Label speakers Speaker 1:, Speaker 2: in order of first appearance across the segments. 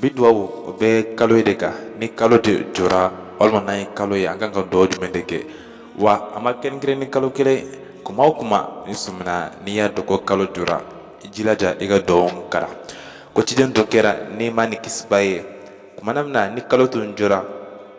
Speaker 1: bi duwawu o bɛ kalo ye de kan ni kalo de jɔra walima n'an ye kalo ye an kan ka duwawu jumɛn de kɛ wa a ma kɛrɛnkɛrɛn ni kalo kelen kuma o kuma n'i sɔmina n'i y'a dɔn ko kalo jɔra i jilaja i ka duwawu kalan ko ciden tun kɛra nɛɛma ni kisi b'a ye kumana min na ni kalo tun jɔra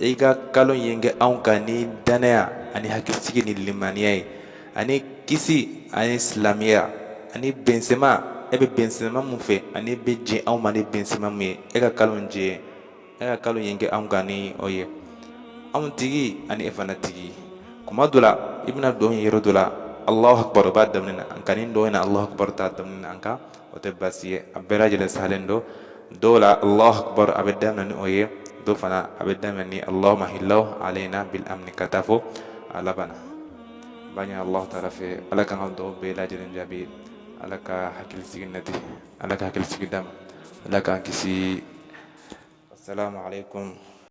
Speaker 1: i ka kalo in kɛ anw kan ni danaya ani hakilisigi ni limaniya ye ani kisi ani silamɛya ani bɛnsɛma e bɛ bɛnsɛma mun fɛ ani i bɛ jɛn anw ma ni bɛnsɛma mun ye e ka kalo in jɛ e ka kalo in kɛ anw kan ni o ye anw tigi ani e fana tigi kuma dɔ la i bɛna duwawu ye yɔrɔ dɔ la alahu akibaru b'a daminɛ na nka nin duwawu in na alahu akibaru t'a daminɛ na nka o tɛ baasi ye a bɛɛ lajɛlen sahalen don dɔw la allahu akbar a bɛ daminɛ ni o ye dɔw fana a bɛ daminɛ ni allahumma ahillahu alayna bil amni ka taa fo a laban na n b'a ɲini allahu taala fɛ ala k'an ka duwawu bɛɛ lajɛlen jaabi ala ka hakilisigi nati ala ka hakilisigi d'an ma ala k'an kisi assalamu alaikum